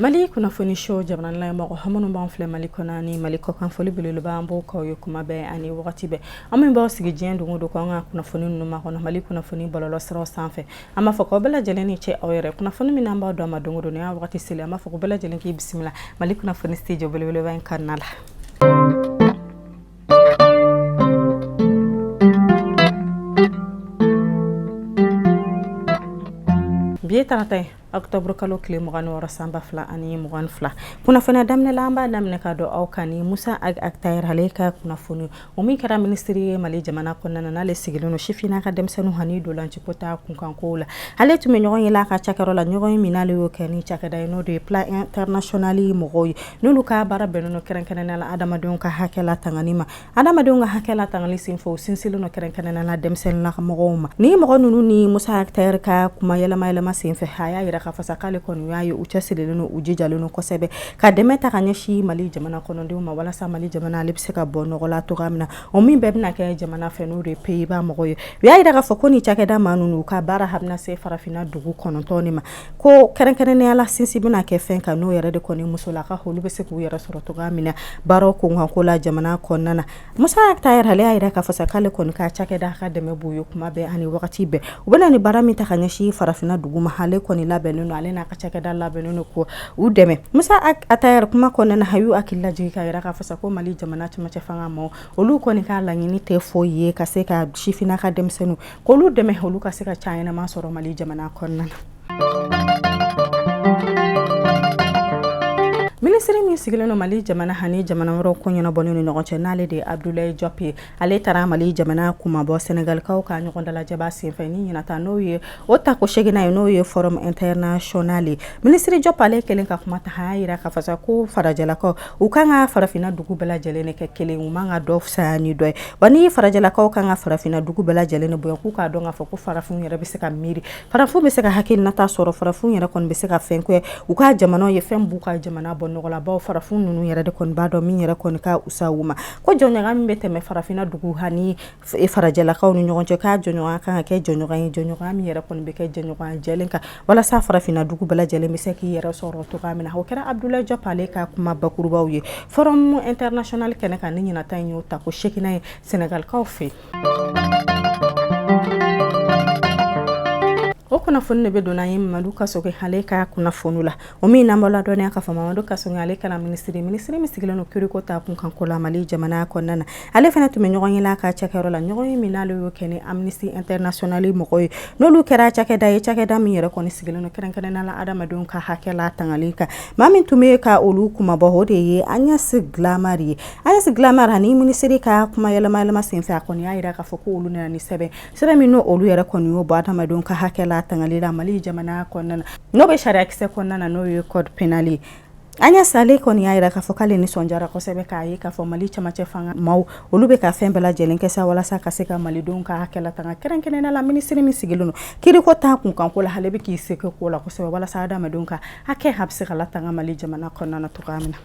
mali kunnafoni show jamanala mɔgɔ aw minnu b'an filɛ mali kɔnɔ ni mali kɔkan foli belebeleba an b'o k'aw ye kuma bɛɛ ani wagati bɛɛ aw min b'aw sigi diɲɛ don o don ko an ka kunnafoni ninnu makɔnɔ mali kunnafoni bɔlɔlɔ siraw sanfɛ an b'a fɔ k'aw bɛɛ lajɛlen ni ce aw yɛrɛ kunnafoni min an b'a d'aw ma don o don nin y'a wagati selen an b'a fɔ ko bɛɛ lajɛlen k'i bisimila mali kunnafoni studio belebeleba in kɔnɔna la bi ye tarata ye octobre kalo tile mugan wɔɔrɔ san ba fila ani mugan fila kunnafoni daminɛ la an b'a daminɛ ka d'aw kan ni musa ag attaher ale ka kunnafoni o min kɛra minisiri ye mali jamana kɔnɔna na n'ale sigilen don sifinna ka denmisɛnnin hani ntolaciko ta kunkanko la ale tun bɛ ɲɔgɔnye la a ka cakɛyɔrɔ la ɲɔgɔnye min n'ale y'o kɛ ni cakɛda ye n'o de ye plan international mɔgɔw ye N'olu ka baara bɛnnen don kɛrɛnkɛrɛnnenya la adamadenw ka hakɛ latangali ma, adamadenw ka hakɛ latangali senfɛ u sinsinlen don kɛrɛnkɛrɛnnenya la denmisɛnninnaka mɔgɔw ma, nin mɔgɔ ninnu ni Musa Ag Attaher ka kuma yɛlɛma yɛlɛma senfɛ, a y'a jira k'a fɔ sa k'ale kɔni y'a ye u cɛ sirilen don, u jijalen don kosɛbɛ ka dɛmɛ ta ka ɲɛsin Mali jamana kɔnɔdenw ma walasa Mali jamana ale bɛ se ka bɔ nɔgɔ la cogoya min na, o min bɛɛ bɛna kɛ jamana fɛ n'o de ye Pays Bas mɔgɔw ye, u y'a jira k'a fɔ ko nin cakɛda maa ninnu u ka baara a bɛna se farafinna dugu kɔnɔntɔn de ma. ko kɛrɛnkɛrɛnnenya la sinsin bɛna kɛ fɛn kan n'o yɛrɛ de kɔni musolaka olu bɛ se k'u yɛrɛ sɔrɔ cogoya min na baaraw kunkanko la jamana kɔnɔna na musa ag attaher y'a jira k'a fɔ sa k'ale kɔni ka cakɛda ka dɛmɛ b'u ye kuma bɛɛ ani wagati bɛɛ u bɛna nin baara min ta ka ɲɛsin farafinna dugu ma ale kɔni labɛnnen don ale n'a ka cakɛda labɛnnen don k'u dɛmɛ musa ag attaher kuma kɔnɔna na a y'u hakili lajigin k'a jira k'a fɔ sa ko mali jamana cɛmancɛ fanga maa olu kɔni ka laɲini tɛ foyi ye ka se ka sifinna ka denmisɛnnin k'olu dɛmɛ olu ka se ka ca ɲɛnama sɔrɔ mali jamana kɔnɔna na minisiri min sigilen don mali jamana ani jamana wɛrɛ ko ɲɛnabɔlen ni ɲɔgɔn cɛ n'ale de ye abudulayi jɔp ye ale taara mali jamana kunmabɔ sɛnɛgalikaw ka ɲɔgɔn dalajɛba senfɛ ni ɲinan ta n'o ye o tako seeginan ye n'o ye forum international minisiri jɔp ale kɛlen ka kuma ta a y'a jira k'a fɔ sa ko farajɛlakaw u kan ka farafinna dugu bɛɛ lajɛlen de kɛ kelen u man ka dɔ fisaya ni dɔ ye wa nin farajɛlakaw kan ka farafinna dugu bɛɛ lajɛlen de bonya k'u k'a dɔn k'a fɔ ko farafin yɛrɛ bɛ se ka miiri farafin bɛ se ka hakilinata sɔrɔ farafin yɛrɛ kɔni bɛ se ka fɛn kɛ u ka jamana ye fɛn b'u ka jamana bɔ nɔgɔ la bawo farafin ninnu yɛrɛ de kɔni b'a dɔn min yɛrɛ kɔni ka wusa u ma ko jɛɲɔgɔnya min bɛ tɛmɛ farafinna dugu hani farajɛlakaw ni ɲɔgɔn cɛ k'a jɛɲɔgɔnya kan ka kɛ jɛɲɔgɔnya ye jɛɲɔgɔnya min yɛrɛ kɔni bɛ kɛ jɛɲɔgɔnya jɛlen kan walasa farafinna dugu bɛɛ lajɛlen bɛ se k'i yɛrɛ sɔrɔ cogoya min na o kɛra abudulayi jɔp ale ka kuma bakurubaw ye forum international kɛnɛ kan ni ɲinan ta in y'o tako seeginan ye sɛnɛgalikaw fɛ o kunnafoni de bɛ don n'an ye madu kasoge ale ka kunnafoni la O min na an b'a ladɔnniya k'a fɔ Mamadu Kasɔge ale kɛra minisiri minisiri min sigilen don kiiriko ta kunkanko la mali jamana kɔnɔna na ale fana tun bɛ ɲɔgɔnye la a ka cakɛyɔrɔ la ɲɔgɔnye min n'ale y'o kɛ ni Amnesty International mɔgɔw ye n'olu kɛra cakɛda ye cakɛda min yɛrɛ kɔni sigilen don kɛrɛnkɛrɛnnenya la adamadenw ka hakɛ latangali kan maa min tun bɛ ka olu kumabɔ o de ye Agnès Callamard ye Agnès Callamard ni minisiri ka kuma yɛlɛma senfɛ a kɔni y'a jira k'a fɔ ko olu nana ni sɛbɛn sira min n' olu yɛrɛ kɔni y'o bɔ adamadenw ka hakɛ latangali la mali jamana kɔnɔna na n'o bɛ sariyakisɛ kɔnɔna na n'o ye code pénal ye Agnès ale kɔni y'a jira k'a fɔ k'ale nisɔndiyara kosɛbɛ k'a ye k'a fɔ mali cɛmancɛ fanga maaw olu bɛ ka fɛn bɛɛ lajɛlen kɛ sa walasa ka se ka malidenw ka hakɛ latanga kɛrɛnkɛrɛnnenya la minisiri min sigilen don kiiriko ta kunkanko la ale bɛ k'i se ko la kosɛbɛ walasa adamadenw ka hakɛ a bɛ se ka latanga mali jamana kɔnɔna na cogoya min na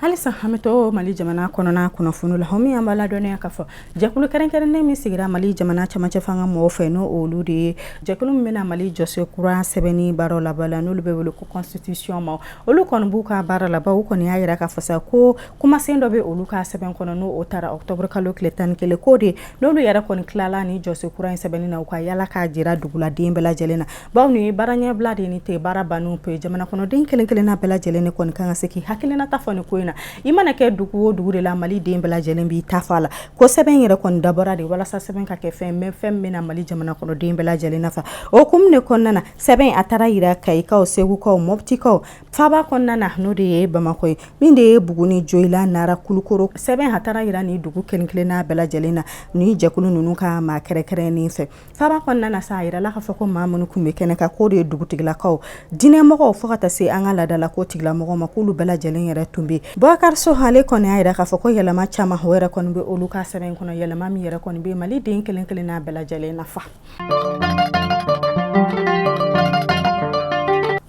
halisa an bɛ to mali jamana kɔnɔna kunnafoni la o min na an b'a ladɔnniya k'a fɔ jɛkulu kɛrɛnkɛrɛnnen min sigira mali jamana cɛmancɛ fanga mɔgɔw fɛ n'o olu de ye jɛkulu min bɛna mali jɔsen kura sɛbɛnni baara laban la n'olu bɛ wele ko constitution ma olu kɔni b'u ka baara laban u kɔni y'a jira k'a fɔ sa ko kumasen dɔ bɛ olu ka sɛbɛn kɔnɔ n'o taara ɔkutɔburu kalo tile tan ni kelen ko de n'olu yɛrɛ kɔni tilala ni jɔsen kura in sɛbɛnni na u ka yaala k'a jira duguladen bɛɛ lajɛlen na Bawo ni baara ɲɛbila de ni tɛ baara bannen pe jamana kɔnɔden kelen kelenna bɛɛ lajɛlen de kɔni kan ka se k'i hakilinata fɔ ni ko in na i mana kɛ dugu o dugu de la mali den bɛɛ lajɛlen b'i ta fɔ a la ko sɛbɛn in yɛrɛ kɔni dabɔra de walasa sɛbɛn ka kɛ fɛn ye fɛn min na mali jamana kɔnɔden bɛɛ lajɛlen nafa o hukumu de kɔnɔna na sɛbɛn a taara jira kayikaw segukaw mɔptikaw faba kɔnɔna na n'o de ye bamakɔ ye min de ye buguni joyila nara kulukoro sɛbɛn a taara jira ni dugu kelen kelenna bɛɛ lajɛlen na ni jɛkulu ninnu ka maa kɛrɛnkɛrɛnnen fɛ Faba kɔnɔna na sa a jirala k'a fɔ ko maa minnu tun bɛ kɛnɛ kan k'o de ye dugutigilakaw diinɛmɔgɔw fo ka taa se an ka laadala ko tigilamɔgɔw ma k'olu bɛɛ lajɛlen yɛrɛ tun bɛ Bubakari So ale kɔni y'a jira k'a fɔ ko yɛlɛma caman o yɛrɛ kɔni bɛ olu ka sɛbɛn in kɔnɔ yɛlɛma min yɛrɛ kɔni bɛ Mali den kelen kelenna bɛɛ lajɛlen nafa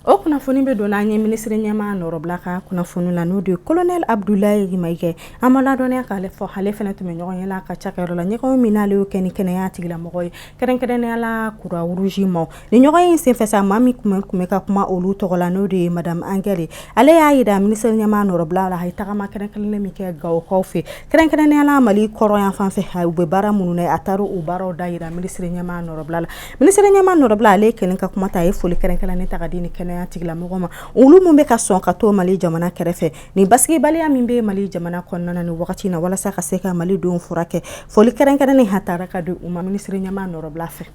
o kunnafoni bɛ don n'an ye minisiri ɲɛmaa nɔrɔbila ka kunnafoni la n'o de ye colonel Abudulayi Mayiga an b'a ladɔnniya k'ale fɔ ale fana tun bɛ ɲɔgɔnye la a ka cakɛyɔrɔ la ɲɔgɔn min n'ale y'o kɛ ni kɛnɛya tigilamɔgɔ ye kɛrɛnkɛrɛnnenya la Croix Rouge ma ni ɲɔgɔn in senfɛ maa min tun bɛ ka kuma olu tɔgɔ la n'o de ye madame Angèle ale y'a jira minisiri ɲɛmaa nɔrɔbila la a ye tagama kɛrɛnkɛrɛnnen min kɛ gawokaw fɛ kɛrɛnkɛrɛnnenya la mali kɔrɔnyanfan fɛ u bɛ baara minnu na a taara o baaraw dajira minisiri ɲɛmaa nɔrɔbila la minisiri ɲɛmaa nɔrɔbila ale kɛlen ka kuma ta a ye foli kɛrɛnkɛrɛnnen ta ka di ni kɛnɛya tigilamɔgɔ ma olu minnu bɛ ka sɔn ka to mali jamana kɛrɛfɛ Ni basigibaliya min bɛ mali jamana kɔnɔna ni wagati na walasa ka se ka malidenw furakɛ foli kɛrɛnkɛrɛnnen a tara ka di u ma minisiri ɲɛmaa nɔrɔbila fɛ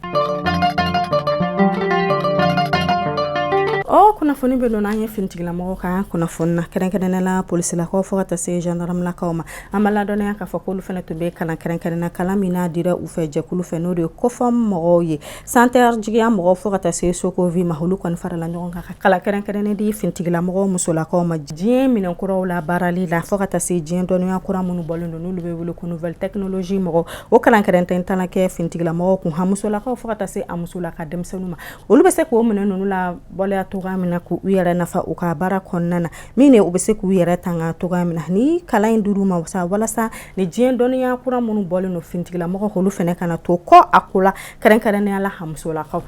o kunnafoni bɛ don n'an ye finitigilamɔgɔw ka kunnafoni na kɛrɛnkɛrɛnnenya la polisilakaw fo ka taa se jandaramalakaw ma an b'a ladɔnniya k'a fɔ k'olu fana tun bɛ kalan kɛrɛnkɛrɛnnen na kalan min n'a dira u fɛ jɛkulu fɛ n'o de ye kofɔ mɔgɔw ye Centre jigiya mɔgɔw fo ka taa se sokovi ma olu kɔni farala ɲɔgɔn kan ka kalan kɛrɛnkɛrɛnnen di finitigilamɔgɔ musolakaw ma diɲɛ minɛn kuraw labaarali la fo ka taa se diɲɛ dɔnniya kura minnu bɔlen don n'olu bɛ wele ko nouvelle technologie mɔgɔ o kalan kɛrɛnkɛrɛnnen taara kɛ finitigilamɔgɔw kun a musolakaw fo ka taa se a musolaka denmisɛnninw ma olu bɛ se k'o minɛn ninnu labaara cogoya min na k' u yɛrɛ nafa u ka baara kɔnɔna na min u bɛ se k'u yɛrɛ tanga cogoya min na ni kalan in dir'u ma walasa ni diɲɛ dɔnniya kura minnu bɔlen don finitigilamɔgɔ olu fana kana to kɔ a ko la kɛrɛnkɛrɛnnenya la a musolakaw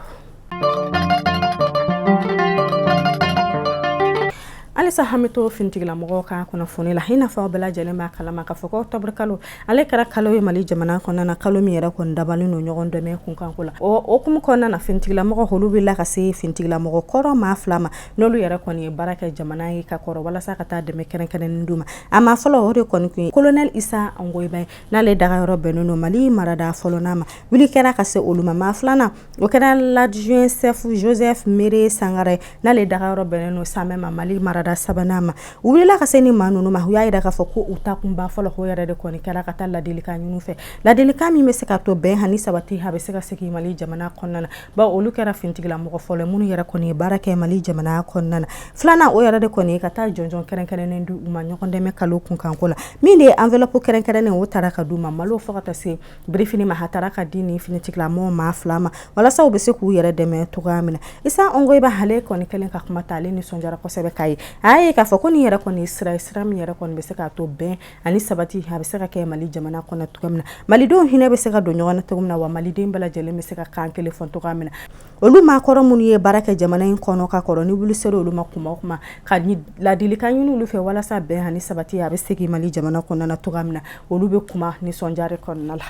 halisa an bɛ to finitigilamɔgɔ ka kunnafoni la i n'a fɔ aw bɛɛ lajɛlen b'a kalama k'a fɔ ko octobre kalo ale kɛra kalo ye mali jamana kɔnɔna na kalo min yɛrɛ kɔni dabalen don ɲɔgɔn dɛmɛ kunkanko la o hukumu kɔnɔna na finitigilamɔgɔ olu wulila ka se finitigilamɔgɔ kɔrɔ maa fila ma n'olu yɛrɛ kɔni ye baara kɛ jamana ye ka kɔrɔ walasa ka taa dɛmɛ kɛrɛnkɛrɛnnen d'u ma a maa fɔlɔ o de kɔni tun ye kolonɛli isa angoyiba ye n'ale daga yɔrɔ bɛnnen don mali marada fɔlɔ n'a ma wuli kɛra ka se olu ma maa filanan o kɛra l'adjudant chef joseph mire sangare n'ale daga yɔrɔ bɛnnen don samɛ mali marada sabanan ma u wulila ka se ni maa ninnu ma u y'a jira k'a fɔ ko u taa kunba fɔlɔ o yɛrɛ de kɔni kɛra ka taa ladilikan ɲini u fɛ ladilikan min bɛ se k'a to bɛn ani sabati a bɛ se ka segin mali jamana kɔnɔna na bawo olu kɛra finitigilamɔgɔ fɔlɔ minnu yɛrɛ kɔni ye baara kɛ mali jamana kɔnɔna na filanan o yɛrɛ de kɔni ye ka taa jɔnjɔn kɛrɛnkɛrɛnnen di u ma ɲɔgɔn dɛmɛ kalo kunkanko la min de ye enveloppe kɛrɛnkɛrɛnnen o taara ka d'u ma malo fo ka taa se birifini ma a taara ka di ni finitigilamɔgɔ maa fila ma walasa u bɛ se k'u yɛrɛ dɛmɛ cogoya min na isa angoyiba ale kɔni kɛlen ka kuma ta ale nisɔndiyara kosɛbɛ k'a ye a ye k'a fɔ ko nin yɛrɛ kɔni sira sira min yɛrɛ kɔni bɛ se k'a to bɛn ani sabati a bɛ se ka kɛ mali jamana kɔnɔ cogo min na malidenw hinɛ bɛ se ka don ɲɔgɔn na cogo min na wa maliden bɛɛ lajɛlen bɛ se ka kan kelen fɔ cogoya min na olu maa kɔrɔ minnu ye baara kɛ jamana in kɔnɔ ka kɔrɔ ni wuli sera olu ma kuma o kuma ka ladilikan ɲini olu fɛ walasa bɛn ani sabati a bɛ segin mali jamana kɔnɔna na cogoya min na olu bɛ kuma nisɔndiya kɔnɔna la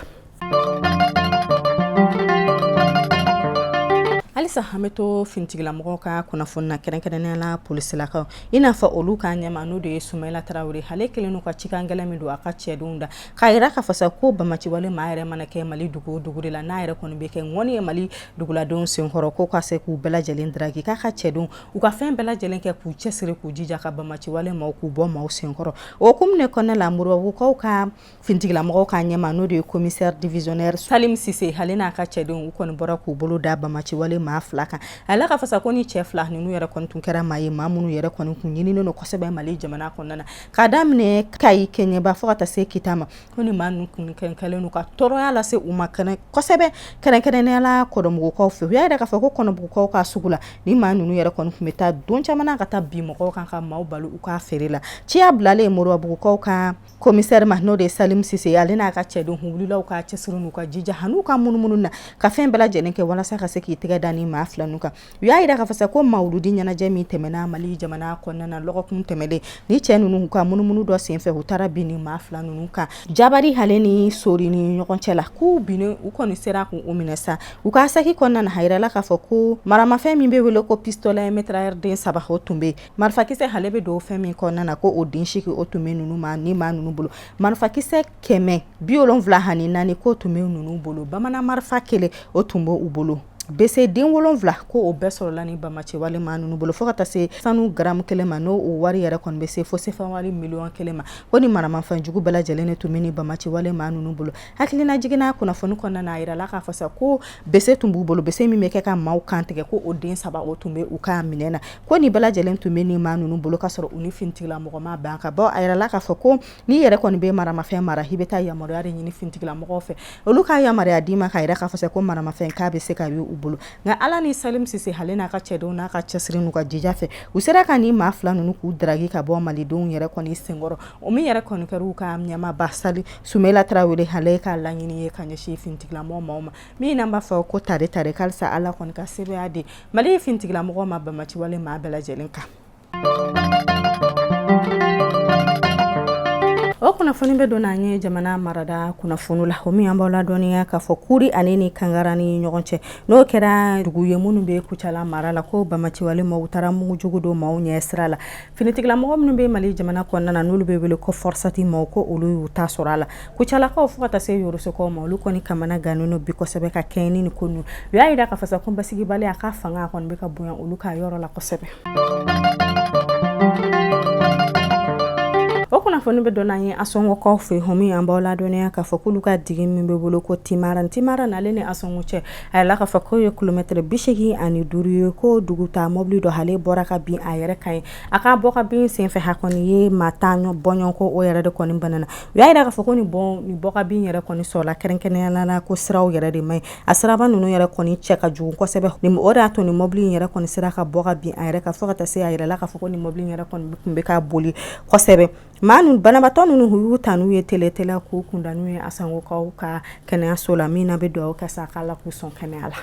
halisa an bɛ to finitigilamɔgɔ ka kunnafoni na kɛrɛnkɛrɛnnenya la polisilakaw i n'a fɔ olu ka ɲɛmaa n'o de ye sumayila tarawele ale kɛlen don ka cikan gɛlɛn min don a ka cɛdenw da k'a jira k'a fɔ sa ko bamaciwale maa yɛrɛ mana kɛ mali dugu o dugu de la n'a yɛrɛ kɔni bɛ kɛ ŋɔni ye mali duguladenw senkɔrɔ ko ka se k'u bɛɛ lajɛlen traquer k'a ka cɛdenw u ka fɛn bɛɛ lajɛlen kɛ k'u cɛsiri k'u jija ka bamaciwale maaw k'u bɔ maaw senkɔrɔ o hukumu de kɔnɔna la moribabugukaw ka Finitigilamɔgɔ ka ɲɛmaa n'o de ye komisɛri divisionnaire salimu sise ale n'a ka cɛdenw u kɔni bɔra k'u bolo da bamaciwale maa fila kan a la k'a fɔ sa ko ni cɛ fila ninnu yɛrɛ kɔni kun kɛra maa ye maa minnu yɛrɛ kɔni tun ɲininen don kosɛbɛ mali jamana kɔnɔna na k'a daminɛ kayi kɛɲɛba fo ka taa se kita ma ko ni maa ninnu kun kɛlen don ka tɔɔrɔya lase u ma kɛnɛ kosɛbɛ kɛrɛnkɛrɛnnenya la kɔnɔbugukaw fɛ u y'a yira k'a fɔ ko kɔnɔbugukaw ka sugu la ni maa ninnu yɛrɛ kɔni tun bɛ taa don caman ka taa bin mɔgɔw kan ka maaw bali u ka feere la ciya bilalen moribabugukaw kan Komisɛri ma n'o de ye salimu sise ale n'a ka cɛdenw wulila u ka cɛsiri n'u ka jija hali n'u ka munumunu na ka fɛn bɛɛ lajɛlen kɛ walasa ka se k'i tɛgɛ da ni maa fila kan u y'a yira k'a fɔ sa ko mawuludi ɲɛnajɛ min tɛmɛna mali jamana kɔnɔna na dɔgɔkun tɛmɛlen ni cɛ ninnu ka munumunu dɔ senfɛ u taara bin ni maa fila ninnu kan jabari hale ni sori ni ɲɔgɔn cɛ la k'u bin u kɔni sera k'u minɛ sa u ka saki kɔnɔna na a yirala k'a fɔ ko maramafɛn min bɛ wele ko pistolet mitrailleur den saba tun bɛ yen marifakisɛ hale bɛ don fɛn min kɔnɔna na ko o den segin o tun bɛ ninnu ma ni maa ninnu bolo marifakisɛ kɛmɛ bi wolonwula ani naani k'o tun bɛ ninnu bolo bamanan marifa kelen o tun bɛ u bolo bese den wolonwula ko o bɛɛ sɔrɔla ni banbaanciwale maa ninnu bolo fo ka taa se sanu garamu kelen ma n'o wari yɛrɛ kɔni bɛ se fo sefawari miliyɔn kelen ma ko ni maramafɛn jugu bɛɛ lajɛlen de tun bɛ ni banbaanciwale maa ninnu bolo hakililajigin na kunnafoni kɔnɔna na a yirala k'a fɔ sa ko bese tun b'u bolo bese min bɛ kɛ ka maaw kantigɛ ko o den saba o tun bɛ u ka minɛn na ko ni bɛɛ lajɛlen tun bɛ ni maa ninnu bolo ka sɔrɔ u ni finitigilamɔgɔ ma ban ka bɔ a yirala k'a fɔ ko n'i yɛrɛ kɔni bɛ maramafɛn mara i bɛ taa yamaruya de ɲini finitigilamɔgɔw fɛ olu ka yamaruya d'i ma k'a yira k'a fɔ ko maramafɛn k'a bɛ se ka u bolo nka ala ni salimu sise hale n'a ka cɛdenw n'a ka cɛsiri n'u ka jija fɛ u sera ka ni maa fila ninnu k'u daki ka bɔ malidenw yɛrɛ kɔni senkɔrɔ o min yɛrɛ kɔni kɛra ka ɲɛmaaba sumayila tarawele hale ka laɲini ye ka ɲɛsin finitigilamɔgɔw ma min an b'a fɔ ko tare ta halisa ala kɔni ka sebaaya di mali finitigilamɔgɔw ma banbaanciwale maa bɛɛ lajɛlen kan o kunnafoni bɛ don an ye jamana marada kunnafoni la o min an b'aw ladɔnniya k'a fɔ kuri ani ni kangara ni ɲɔgɔn cɛ n'o kɛra dugu ye minnu bɛ kucala mara la ko banbaanciwale maaw taara mugu jugu don maaw ɲɛ sira la finitigilamɔgɔ minnu bɛ mali jamana kɔnɔna na n'olu bɛ wele ko fɔrɔsati maaw ko olu y'u ta sɔrɔ a la Kucalakaw fo ka taa se yɔrɔsokaw ma olu kɔni kamana gannen don bi kosɛbɛ ka kɛɲɛ ni ko ninnu u y'a yira k'a fɔ sa ko basigibaliya ka fanga kɔni bɛ ka bonya olu ka yɔrɔ la kosɛbɛ o kunnafoni bɛ don an ye asɔngɔkaw fɛ o min an b'aw ladɔnniya k'a fɔ k'olu ka dugu min b'u bolo ko timara timara n'ale ni asɔngɔ cɛ a yirala k'a fɔ k'o ye kilomɛtɛrɛ bisegin ani duuru ye ko dugutaa mobili dɔ hale bɔra ka bin a yɛrɛ kan yen a ka bɔ ka bin senfɛ hakɛ kɔni ye maa tan bɔɲɔgɔnko o yɛrɛ de kɔni banna U y'a yira k'a fɔ ko nin bɔ ka bin yɛrɛ kɔni sɔrɔla kɛrɛnkɛrɛnnenya la ko siraw yɛrɛ de man ɲi a siraba ninnu yɛrɛ kɔni cɛ ka jugu kosɛbɛ o de y'a to ni mɔbili in yɛrɛ kɔni sera ka bɔ ka bin a yɛrɛ kan fo ka taa se a yirala k'a fɔ ko ni mɔbili yɛrɛ kɔni tun bɛ ka boli kosɛbɛ maa ninnu banabaatɔ ninnu u y'u ta n'u ye teliteli k'u kunda n'u ye Asɔngɔkaw ka kɛnɛyaso la min an bɛ dugawu kɛ sa k'Ala k'u sɔn kɛnɛya la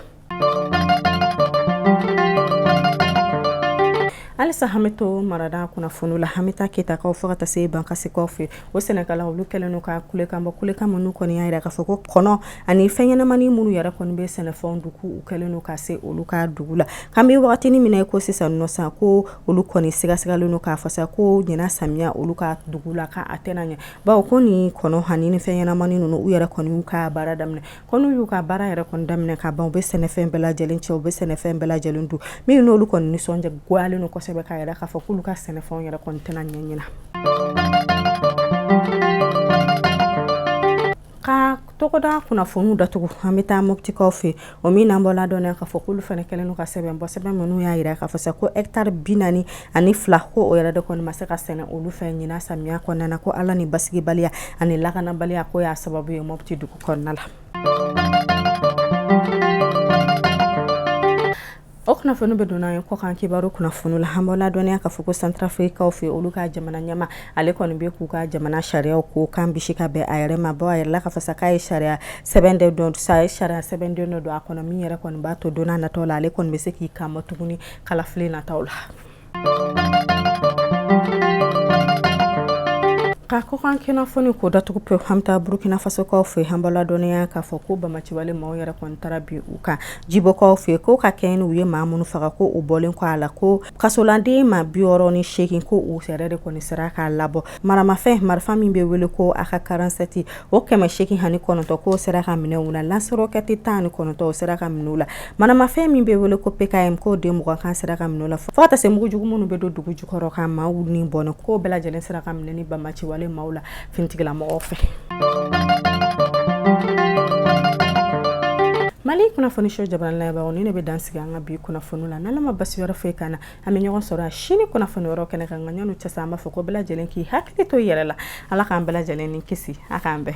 halisa an bɛ to marada kunnafoni la an bɛ taa ketakaw fo ka taa se bankasikaw fɛ o sɛnɛkɛlaw olu kɛlen don ka kulekan bɔ kulekan minnu kɔni y'a jira k'a fɔ ko kɔnɔ ani fɛnɲɛnamani minnu yɛrɛ kɔni bɛ sɛnɛfɛnw dun u kɛlen don ka se olu ka dugu la an bɛ wagatini min na i ko sisan nɔ san ko olu kɔni sigasigalen don k'a fɔ sa ko ɲinan samiya olu ka dugu la k' a tɛna ɲɛ bawo ko nin kɔnɔ ani ni fɛnɲɛnamani ninnu u yɛrɛ kɔni y'u ka baara daminɛ ko n'u y'u ka baara yɛrɛ kɔni daminɛ ka ban u bɛ sɛnɛfɛn bɛɛ lajɛlen cɛ u bɛ sɛnɛfɛn bɛɛ lajɛlen dun min n'olu kɔni nisɔndiya goyalen don kosɛbɛ k'a jira k'a fɔ k'olu ka sɛnɛfɛnw yɛrɛ kɔni tɛna ɲɛ ɲinan ka tɔgɔda kunnafoniw datugu an bɛ taa moptikaw fɛ o min n'an b'aw ladɔnniya k'a fɔ k'olu fana kɛlen don ka sɛbɛn bɔ sɛbɛn minnu y'a jira k'a fɔ sa ko etari bi naani ani fila ko o yɛrɛ de kɔni ma se ka sɛnɛ olu fɛ ɲinan samiya kɔnɔna na ko ala ni basigibaliya ani lakanabaliya ko y'a sababu ye mɔti dugu kɔnɔna la o kunnafoni bɛ don an ye kɔkan kibaru kunnafoni la an b'aw ladɔnniya k'a fɔ ko santarafirikikaw fɛ olu ka jamana ɲɛmaa ale kɔni bɛ k'u ka jamana sariya ko kan bisi ka bɛn a yɛrɛ ma bawo a jirala k'a fɔ sa k'a ye sariya sɛbɛn dɔ sa ye sariya sɛbɛnden dɔ don a kɔnɔ min yɛrɛ kɔni b'a to don nataw la ale kɔni bɛ se k'i kanbɔ tuguni kalafili nataw la ka kɔkan kunnafoni ko datugu pe an bɛ taa burukina fasokaw fɛ an b'aw ladɔnniya k'a fɔ ko banbaanciwale maaw yɛrɛ kɔni taara bin u kan jibɔkaw fɛ ko ka kɛɲɛ n'u ye maa minnu faga ko o bɔlen kɔ a la ko kasoladen maa bi wɔɔrɔ ni seegin ko u yɛrɛ de kɔni sera ka labɔ maramafɛn marifa min bɛ wele ko aka karansɛti o kɛmɛ seegin ani kɔnɔntɔn k'o sera ka minɛ u la lansirɔkɛti tan ni kɔnɔntɔn o sera ka minɛ u la maramafɛn min bɛ wele ko pkm k'o den mugan sera ka minɛ u la fo ka taa se mugujugu minnu bɛ don dugu jukɔrɔ ka maaw ni bɔnɛ k'o bɛɛ lajɛlen sera ka minɛ nin banbaanciwale maaw la finitigilamɔgɔw fɛ mali kunnafoniso jamana la ni ne bɛ dan sigi an ka bi kunnafoni la n'ala ma basi wɛrɛ foyi k'an na an bɛ ɲɔgɔn sɔrɔ a sini kunnafoni wɛrɛ kɛnɛ kan nka yan n'o cɛ sa an b'a fɔ ko bɛɛ lajɛlen k'i hakili to i yɛrɛ la ala k'an bɛɛ lajɛlen ni kisi a k'an bɛɛ